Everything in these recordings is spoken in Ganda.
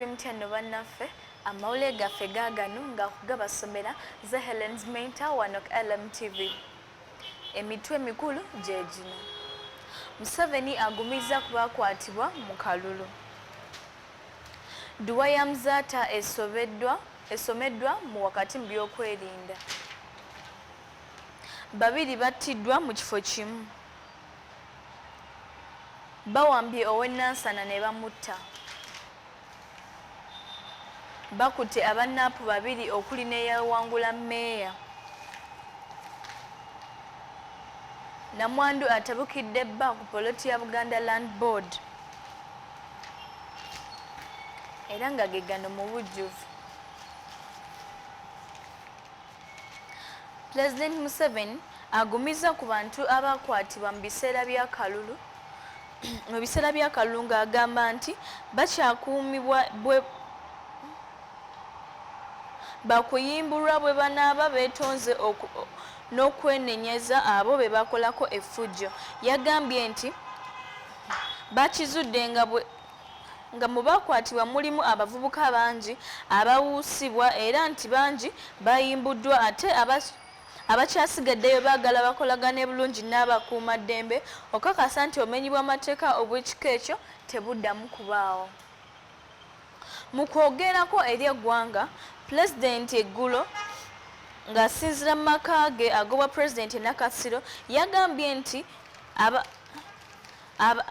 mutya nno bannaffe amawulire gaffe gaagano nga kugabasomera ze helens mainta wano ku lmtv emitwe mikulu gye gino museveni agumizza ku bakwatibwa mu kalulu dduwa ya muzaata esomeddwa mu wakati mu byokwerinda babiri battiddwa mu kifo kimu Bawambye ow'e Nansana ne bamutta. Bakutte aba NAP babiri okuli n'eyawangula mmeeya. Namwandu atabukidde bba ku poloti ya Buganda Land Board era nga ge gano mu bujjuvu. Pulezidenti Museveni agumizza ku bantu abaakwatibwa mu biseera by'akalulu mu biseera by'akalulu ng'agamba nti bakyakuumibwa bwe bakuyimbulwa bwe banaaba beetonze n'okwenenyeza abo be bakolako effujjo. Yagambye nti bakizudde nga bwe nga mu baakwatibwa mulimu abavubuka bangi abawuusibwa era nti bangi bayimbuddwa ate abakyasigaddeyo baagala bakolagane bulungi n'abakuumaddembe okukakasa nti obumenyi bw'amateeka obw'ekika ekyo tebuddamu kubaawo mu kwogerako eri eggwanga pulezidenti eggulo ng'asinzira mu maka ge agobwa pulezidenti e nakasiro yagambye nti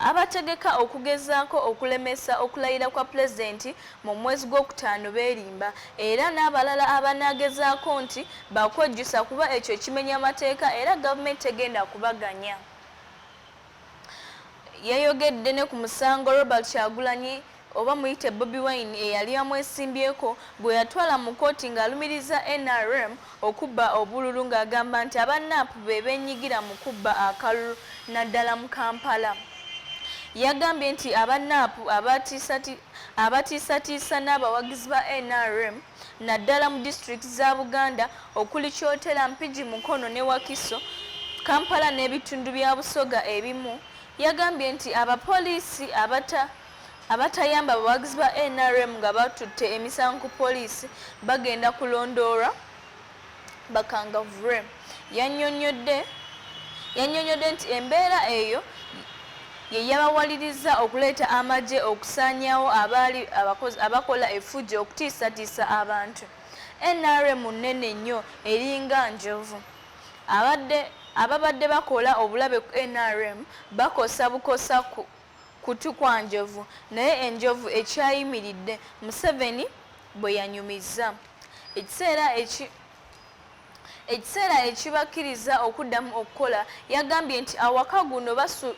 Abategeka okugezaako okulemesa okulayira kwa Pulezidenti mu mwezi gw'okutaano beerimba era n'abalala abanaagezaako nti baakwejjusa kuba ekyo kimenya mateeka era gavumenti tegenda kubaganya. Yayogedde ne ku musango Robert Kyagulanyi oba muyite Bobi Wine eyali amwesimbyeko gwe yatwala mu kkooti ng'alumiriza nrm okubba obululu ng'agamba nti aba nup be beenyigira mu kubba akalulu naddala mu Kampala. Yagambye nti aba nup abatiisatiisa n'abawagizi ba nrm naddala mu disitulikiti za Buganda okuli Kyotera, Mpigi, Mukono ne Wakiso, Kampala n'ebitundu bya Busoga ebimu. Yagambye nti abapoliisi abata Abatayamba abawagizi ba nrm nga batutte emisango ku poliisi bagenda kulondoolwa bakangavure yanyonyodde yanyonyodde nti embeera eyo ye yabawaliriza okuleeta amagye okusaanyawo abaali abakozi abakola efujjo okutiisatiisa abantu nrm nnene nnyo eringa njovu abadde ababadde bakola obulabe ku nrm bakosa bukosa ku kutu kwa Njovu naye enjovu ekyayimiridde, Museveni bwe yanyumizza. Ekiseera eki ekiseera ekibakkiriza okuddamu okukola yagambye nti awaka guno basu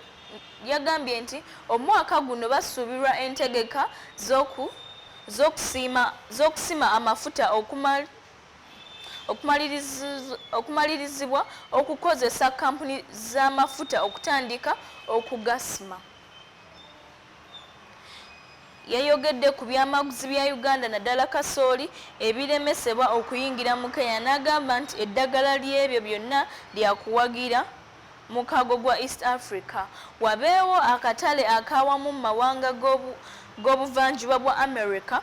yagambye nti omwaka guno basuubirwa entegeka z'oku z'okusiima z'okusima amafuta okumala okumalirizibwa okukozesa kampuni z'amafuta okutandika okugasima yayogedde ku byamaguzi bya uganda naddala kasooli ebiremesebwa okuyingira mu kenya n'agamba nti eddagala ly'ebyo byonna lyakuwagira mukago gwa east africa wabeewo akatale akawamu mu mawanga g'obuvanjuba bwa america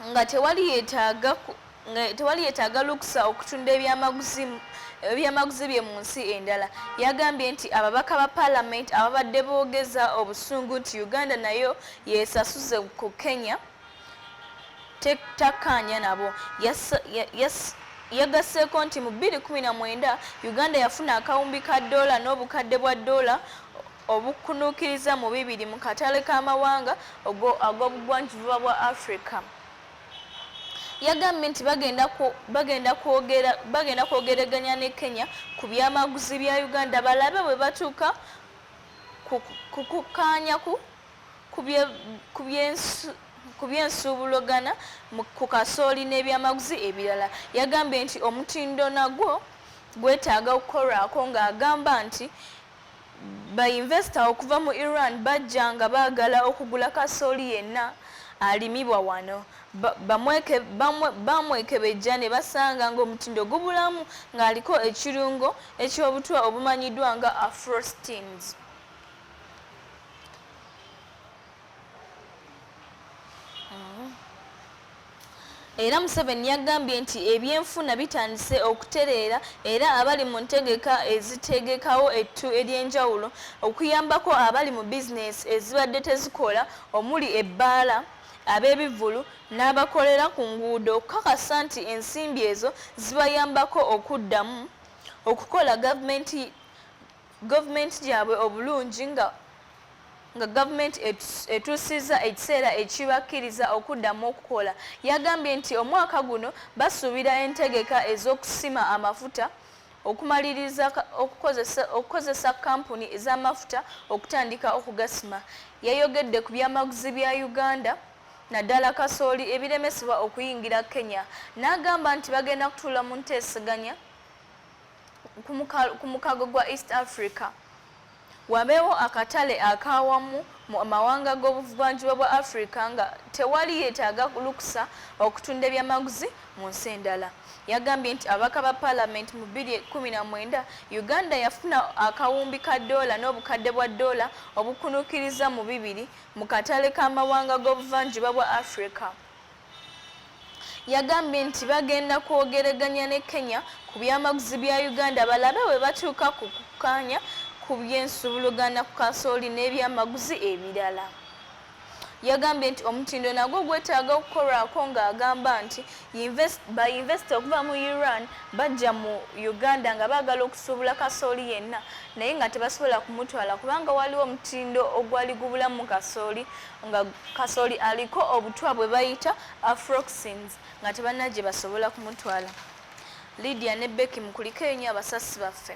nga tewali yetaaga nga tewali yetaaga lukusa okutunda ebyamaguzi ebyamaguzi bye mu nsi endala yagambye nti ababaka ba palamenti ababadde boogeza obusungu nti uganda nayo yesasuze ku kenya takkaanya nabo yagasseeko nti mu 219 uganda yafuna akawumbi ka doola n'obukadde bwa doola obukkunuukiriza mu bibiri mu katale k'amawanga ag'obugwanjuba bwa Africa. Yagambye nti bagenda kwogereganya ne Kenya ku byamaguzi bya Uganda balabe bwe batuuka ku kukkaanya ku by'ensuubulogana ku kasooli n'ebyamaguzi ebirala. Yagambye nti omutindo nagwo gwetaaga okukolwako ng'agamba nti Bayinvesita okuva mu Iran bajja nga baagala okugula kasooli yenna alimibwa wano. Baamwekebejja ne basanga ng'omutindo gubulamu ng'aliko ekirungo eky'obutwa obumanyiddwa nga Afrosteins. era Museveni yagambye nti ebyenfuna bitandise okutereera era abali mu ntegeka ezitegekawo ettu ery'enjawulo okuyambako abali mu bizinensi ezibadde tezikola omuli ebbaala ab'ebivvulu n'abakolera ku nguudo okukakasa nti ensimbi ezo zibayambako okuddamu okukola gavumenti government gyabwe obulungi nga nga gavumenti etuusizza ekiseera ekibakkiriza okuddamu okukola. Yagambye nti omwaka guno basuubira entegeka ez'okusima amafuta okumaliriza okukozesa kkampuni z'amafuta okutandika okugasima. Yayogedde ku byamaguzi bya Uganda naddala kasooli ebiremesebwa okuyingira Kenya n'agamba nti bagenda kutuula mu nteeseganya ku mukago gwa East Africa wabeewo akatale akaawamu mu mawanga g'obuvanjuba bwa Africa nga tewali yeetaaga lukusa okutunda ebyamaguzi mu nsi endala. Yagambye nti ababaka ba Palamenti mu bbiri ekkumi na mwenda Uganda yafuna akawumbi ka ddoola n'obukadde bwa ddoola obukunuukiriza mu bibiri mu katale k'amawanga g'obuvanjuba bwa Africa. Yagambye nti bagenda kwogereganya ne Kenya ku byamaguzi bya Uganda balabe bwe batuuka ku kukkaanya ku by'ensuubuluganda ku kasooli n'ebyamaguzi ebirala. Yagambye nti omutindo nagwo gwetaaga okukolwako ng'agamba nti bayinvesita okuva mu Iran bajja mu Uganda nga baagala okusuubula kasooli yenna naye nga tebasobola kumutwala kubanga waliwo omutindo ogwali gubulamu kasooli nga kasoli aliko obutwa bwe bayita afroxins nga tebanna gye basobola kumutwala lydia ne becky mukuliko enyo abasasi baffe